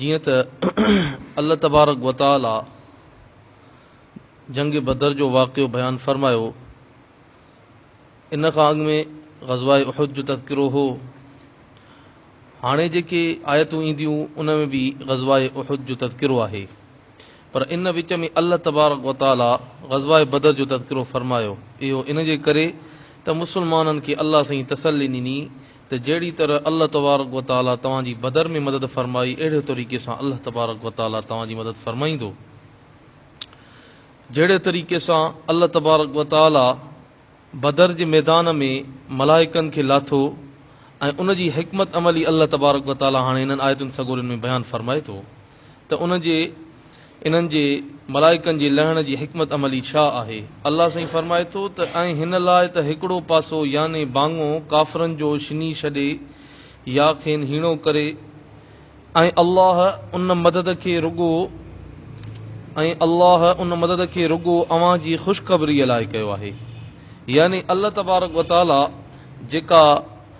جيئن ته الله تبارڪ و تعاليٰ جنگ بدر جو واقعو بيان فرمايو، ان کان اڳ ۾ غزوه احد جو تذڪرو هو، هاڻي جيڪي آيتون اينديون ان ۾ به غزوه احد جو تذڪرو آهي، پر ان وچ ۾ الله تبارڪ و تعاليٰ غزوه بدر جو تذڪرو فرمايو، اهو ان جي ڪري ته مسلمانن کي الله سائين تسلي ڏني ته جهڙي طرح الله تبارڪ و تعاليٰ توهان جي بدر ۾ مدد فرمائي اهڙي طريقي سان الله تبارڪ و تعاليٰ توهان جي مدد فرمائيندو. جهڙي طريقي سان الله تبارڪ و تعاليٰ بدر جي ميدان ۾ ملائڪن کي لاٿو ۽ ان جي حڪمت عملي الله تبارڪ و تعاليٰ هاڻي هنن آيتن سڳورين ۾ بيان فرمائي ٿو. ته ان جي انهن جي، ملائڪن جي، لهڻ جي حڪمت عملي ڇا آهي؟ الله سائين فرمائي ٿو ته ۽ هن لاء ته هڪڙو پاسو يعني ڀاڱو ڪافرن جو شني ڇڏي يا کين هيڻو ڪري ۽ الله ان مدد کي رڳو ۽ الله ان مدد کي رڳو اوهان جي خوشخبريء لاء ڪيو آهي يعني الله تبارڪ وتعاليٰ جيڪا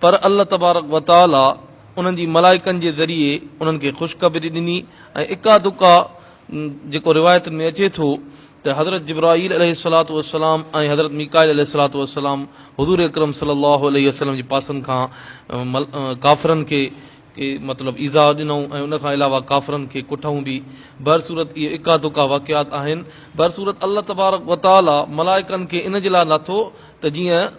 پر الله تبارڪ و تعاليٰ انهن جي ملائڪن جي ذريعي انهن کي خوشخبري ڏني ۽ اڪا دڪا جيڪو روايتن ۾ اچي ٿو ته حضرت جبرائيل عليه الصلوة والسلام ۽ حضرت ميڪائيل عليه الصلوة والسلام حضور اڪرم صلي الله عليه وسلم جي پاسن کان ڪافرن کي مطلب ايذاء ڏنائون ۽ ان کان علاوه ڪافرن کي ڪٺئون به بهرصورت اهي اڪا دڪا واقعات آهن بهرصورت الله تبارڪ و تعاليٰ ملائڪن کي ان جي لاء ناٿو ته جيئن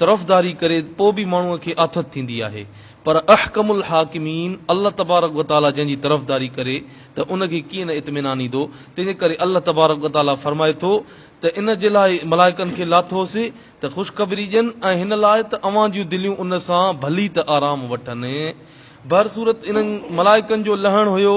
طرفداري ڪري پوء به ماڻهو کي آٿت ٿيندي آهي پر احڪم الحاڪمين الله تبارڪ وتعاليٰ جنهن جي طرفداري ڪري ته ان کي ڪيئن نه اطمينان ايندو تنهن جي ڪري الله تبارڪ وتعاليٰ فرمائي ٿو ته ان جي لاء ملائڪن کي لاٿوس ته خوشخبري ڏين ۽ هن لاء ته اوهان جون دليون ان سان ڀلي ته آرام وٺن بهرصورت انهن ملائڪن جو لهڻ هيو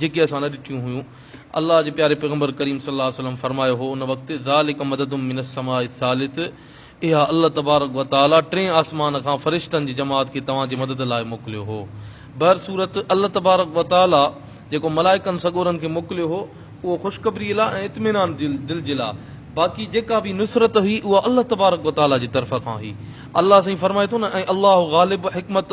جيڪي اسان نه ڏٺيون هيون. الله جي پياري پيغمبر ڪريم صلي الله عليه وسلم فرمايو هو ان وقت، ذلڪ مدد من السماء الثالث، اها الله تبارڪ و تعاليٰ ٽئين آسمان کان فرشتن جي جماعت کي توهان جي مدد لاء موڪليو هو. بهرصورت، الله تبارڪ و تعاليٰ جيڪو ملائڪن سڳورن کي موڪليو هو، اهو خوشخبريء لاء ۽ اطمينان دل جي لاء، باقي جيڪا به نصرت هئي اها الله تبارڪ و تعاليٰ جي طرف کان هئي. الله سائين فرمائي ٿو نه، ۽ الله غالب، حڪمت،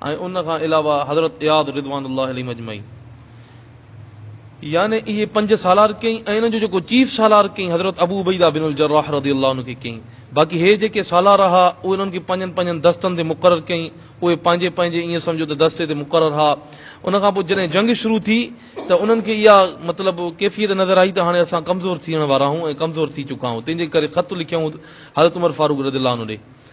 ۽ ان کان علاوه حضرت اياز رضوان الله عليهم اجمعين يعني اهي پنج سالار ڪيائين ۽ انهن جو جيڪو چيف سالار ڪيائين حضرت ابو عبيده بن الجراح رضي الله عنه کي ڪيائين باقي هي جيڪي سالار رها اهي انهن کي پنهنجن پنهنجن دستن تي مقرر ڪيائين اهي پنهنجي پنهنجي ايئن سمجهو ته دستي تي مقرر رها ان کان پوء جڏهن جنگ شروع ٿي ته انهن کي اها مطلب ڪيفيت نظر آئي ته هاڻي اسان ڪمزور ٿيڻ وارا آهيون ۽ ڪمزور ٿي چڪا آهيون تنهن جي ڪري خط لکيائون حضرت عمر فاروق رضي الله عنه ڏي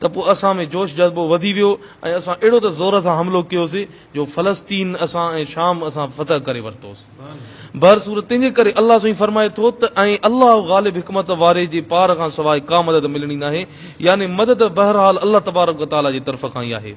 ته پوء اسان ۾ جوش جذبو وڌي ويو ۽ اسان اهڙو ته زور سان حملو ڪيوسي جو فلسطين اسان ۽ شام اسان فتح ڪري ورتوس. بهر صورت تنهنجي ڪري الله سائين فرمائي ٿو ته ۽ الله غالب حڪمت واري جي پار کان سواء ڪا مدد ملڻي ناهي يعني مدد بهرحال الله تبارڪ و تعاليٰ جي طرف کان ئي آهي.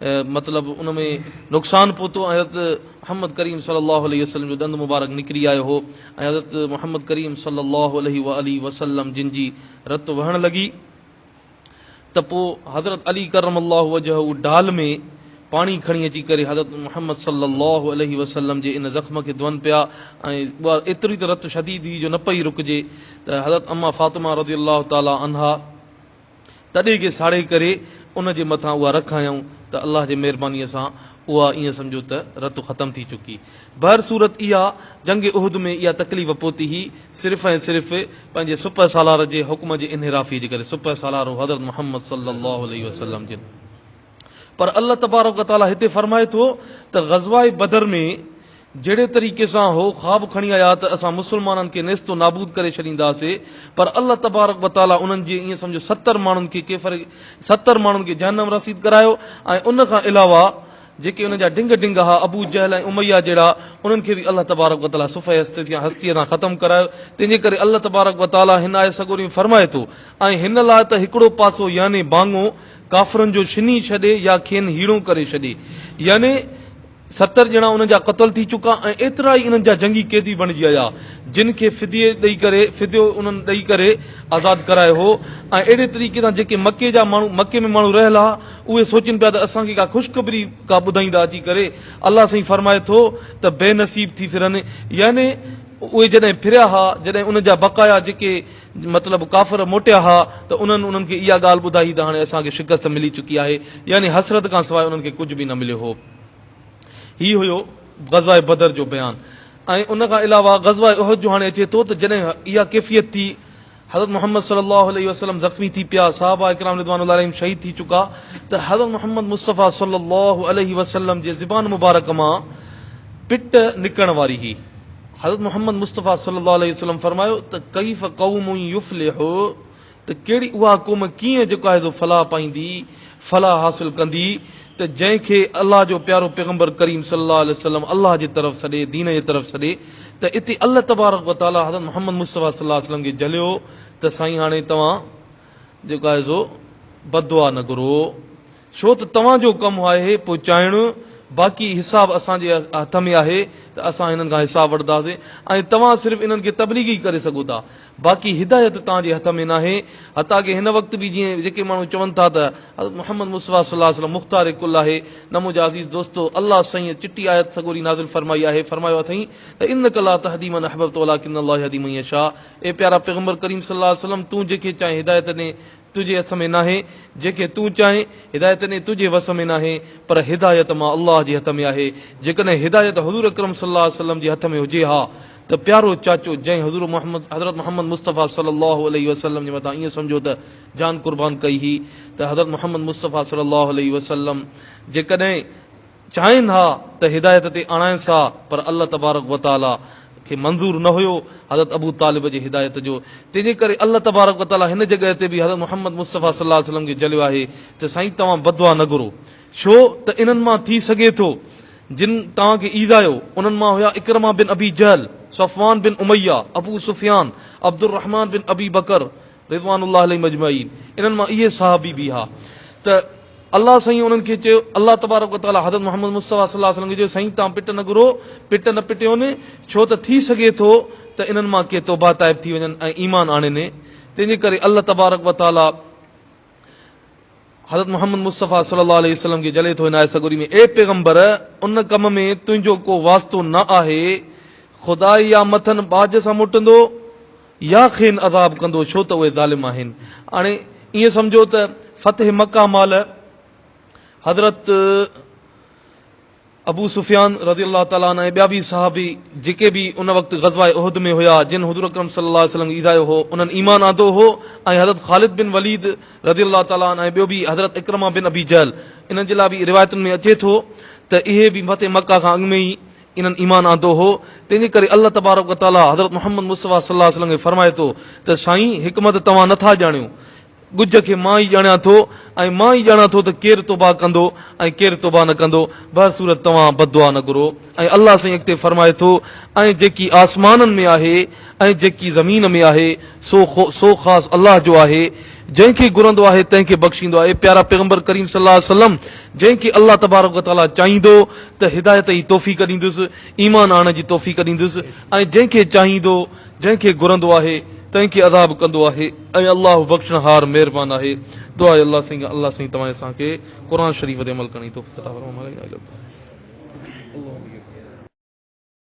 مطلب ان ۾ نقصان پهتو ۽ حضرت محمد ڪريم صلي الله عليه وسلم جو ڏند مبارڪ نڪري آيو هو ۽ حضرت محمد ڪريم صلي الله عليه واٰله وسلم جن جي رت وهڻ لڳي ته پوء حضرت علي ڪرم الله وجهه ڍال ۾ پاڻي کڻي اچي ڪري حضرت محمد صلي الله عليه وسلم جي ان زخم کي ڌون پيا ۽ ايتري ته رت شديد هئي جو نه پئي رڪجي ته حضرت امّا فاطمه رضي الله تعالٰي عنها تڏي کي ساڙي ڪري ان جي مٿان اها رک هنيائون ته الله جي مهربانيء سان اها ائين سمجهو ته رت ختم ٿي چڪي. بهر صورت اها جنگ احد ۾ اها تڪليف پهتي هئي صرف ۽ صرف پنهنجي سپهه سالار جي حڪم جي انحرافيء جي ڪري سپهه سالار هو حضرت محمد صلّي اللّٰه عليه وسلّم جن پر الله تبارڪ و تعاليٰ هتي فرمائي ٿو ته غزوه بدر ۾ جهڙي طريقي سان هو خواب کڻي آيا ته اسان مسلمانن کي نيست و نابود ڪري ڇڏينداسي پر الله تبارڪ و تعاليٰ انهن جي ائين سمجهو ستر ماڻهن کي ڪيفر ستر ماڻهن کي جهنم رسيد ڪرايو ۽ ان کان علاوه جيڪي انهن جا ڊنگ ڊنگ هئا ابو جهل ۽ اميه جهڙا انهن کي به الله تبارڪ و تعاليٰ صفحه هستيء تان ختم ڪرايو تنهن جي ڪري الله تبارڪ و تعاليٰ هن آيت سڳوري ۾ فرمائي ٿو ۽ هن لاء ته هڪڙو پاسو يعني ڀاڱو ڪافرن جو ڇني ڇڏي يا کين هيڻو ڪري ڇڏي. يعني ستر ڄڻا انهن جا قتل ٿي چڪا ۽ ايترا ئي انهن جا جنگي قيدي بڻجي آيا، جن کي فديي ڏئي ڪري، فديو انهن ڏئي ڪري آزاد ڪرايو هو ۽ اهڙي طريقي سان جيڪي مڪي جا ماڻهو، مڪي ۾ ماڻهو رهيل ها، اهي سوچين پيا ته اسان کي ڪا خوشخبري ڪا ٻڌائيندا اچي ڪري. الله سائين فرمائي ٿو ته بي نصيب ٿي ڦرن يعني اهي جڏهن ڦريا ها، جڏهن انهن جا بقايا جيڪي، مطلب ڪافر موٽيا ها ته انهن انهن کي اها ڳالهه ٻڌائي ته هاڻي اسان کي شڪست ملي چڪي آهي، يعني حسرت کان سواء انهن کي ڪجهه به نه مليو هو. هي هيو غزوه بدر جو بيان ۽ ان کان علاوه غزوه احد جو هاڻي اچي ٿو ته جڏهن اها ڪيفيت ٿي حضرت محمد صلي الله عليه وسلم زخمي ٿي پيا، صحابه اڪرام رضوان الله عليهم شهيد ٿي چڪا ته حضرت محمد مصطفيٰ صلي الله عليه وسلم جي زبان مبارڪ مان پٽ نڪرڻ واري هئي. حضرت محمد مصطفيٰ صلّي اللّٰه عليه وسلّم فرمايو ته ڪيف قوم يفلح ته ڪهڙي اها قوم ڪيئن جيڪا هيضو فلاح پائيندي، فلاح حاصل ڪندي، ته جنهن کي الله جو پيارو پيغمبر ڪريم صلّي اللّٰه عليه وسلّم الله جي طرف سڏي، دين جي طرف سڏي ته اتي الله تبارڪ و تعالٰي حضرت محمد مصطفيٰ صلّي اللّٰه عليه وسلّم کي جهليو ته سائين هاڻي توهان جيڪا هيضو بددعا نه گهرو. ڇو ته توهان جو ڪم آهي پهچائڻ، باقي حساب اسان جي هٿ ۾ آهي ته اسان هنن کان حساب وٺنداسين ۽ توهان صرف انهن کي تبليغ ئي ڪري سگهو ٿا، باقي هدايت توهان جي هٿ ۾ ناهي، حتيٰ ڪي هن وقت به جيئن جيڪي ماڻهو چون ٿا ته حضرت محمد مصطفيٰ صلي الله عليه وسلم مختار ڪل آهي، نه منهنجا عزيز دوستو الله سائينء چٽي آيت سڳوري نازل فرمائي آهي، فرمايو اٿئي ته انک لا تهدي من احببت ولڪن الله يهدي من يشاء اي پيارا پيغمبر ڪريم صلي الله عليه وسلم تون جنهن کي چاهين هدايت ڏي، تنهنجي هٿ ۾ ناهي، جيڪي تون چاهين، هدايت ڏيڻ تنهنجي وس ۾ ناهي، پر هدايت مان الله جي هٿ ۾ آهي، جيڪڏهن هدايت حضور اڪرم صلي الله عليه وسلم جي هٿ ۾ هجي ها ته پيارو چاچو جنهن حضور محمد حضرت محمد مصطفيٰ صلي الله عليه وسلم جي مٿان ائين سمجهو ته جان قربان ڪئي هئي ته حضرت محمد مصطفيٰ صلي الله عليه وسلم جيڪڏهن چاهين ها ته هدايت تي آڻائينس ها پر الله تبارڪ وتعالي کي منظور نه هيو حضرت ابو طالب جي هدايت جو تنهن جي ڪري الله تبارڪ وتعالي هن جڳهه تي به حضرت محمد مصطفي صلي الله عليه وسلم کي جهليو آهي ته سائين توهان بدعا نه گهرو ڇو ته انهن مان ٿي سگهي ٿو جن توهان کي ايذايو انهن مان هيا عڪرمه بن ابي جهل صفوان بن اميه ابو سفيان عبدالرحمان بن ابي بڪر رضوان الله عليهم اجمعين انهن مان اهي صحابي به ها ته الله سائين انهن کي چيو الله تبارڪ وتعالي حضرت محمد مصطفي صلي الله عليه وسلم کي چيو سائين توهان پٽ نه گهرو پٽ نه پٽيون ڇو ته ٿي سگهي ٿو ته انهن مان ڪي توبه تائب ٿي وڃن ۽ ايمان آڻين تنهنجي ڪري الله تبارڪ وتعالي حضرت محمد مصطفيٰ صلي الله عليه وسلم کي جلي ٿو هن آيت سڳوري ۾ اي پيغمبر! ان ڪم ۾ تنهنجو ڪو واسطو نه آهي، خدا يا مٿن ٻاجهه سان موٽندو يا کين عذاب ڪندو ڇو ته اهي ظالم آهن. هاڻي ائين سمجهو ته فتح مڪه مهل حضرت. ابو سفيان رضي الله تعالٰي عنه ۽ ٻيا به صحابي جيڪي به ان وقت غزوه احد ۾ هيا جن حضور اڪرم صلي الله عليه وسلم کي ايڌايو هو انهن ايمان آندو هو ۽ حضرت خالد بن وليد رضي الله تعالٰي عنه ۽ ٻيو به حضرت عڪرمه بن ابي جهل انهن جي لاء به روايتن ۾ اچي ٿو ته اهي به فتح مڪه کان اڳ ۾ ئي انهن ايمان آندو هو تنهن جي ڪري الله تبارڪ وتعالٰي حضرت محمد مصطفٰي صلي الله عليه وسلم کي فرمائي ٿو ته سائين حڪمت توهان نه ٿا ڄاڻيو ڳجهه کي مان ئي ڄاڻيان ٿو ۽ مان ئي ڄاڻان ٿو ته ڪير توبهه ڪندو ۽ ڪير توبهه نه ڪندو. بهرصورت توهان بددعا نه گهرو. ۽ الله سائين اڳتي فرمائي ٿو، ۽ جيڪي آسمانن ۾ آهي ۽ جيڪي زمين ۾ آهي سو سو خاص الله جو آهي. جنهن کي گهرندو آهي تنهن کي بخشيندو آهي. پيارا پيغمبر ڪريم صلي الله عليه وسلم جنهن کي الله تبارڪ و تعاليٰ چاهيندو ته هدايت ئي توفيق ڏيندس، ايمان آڻڻ جي توفيق ڏيندس ۽ جنهن کي چاهيندو جنهن کي گهرندو آهي تنهن کي عذاب ڪندو آهي ۽ الله بخشڻهار مهربان آهي دعا اي الله سائين الله سائين توهان اسان کي قرآن شريف تي عمل ڪرڻ جي توفيق عطا فرما مالڪ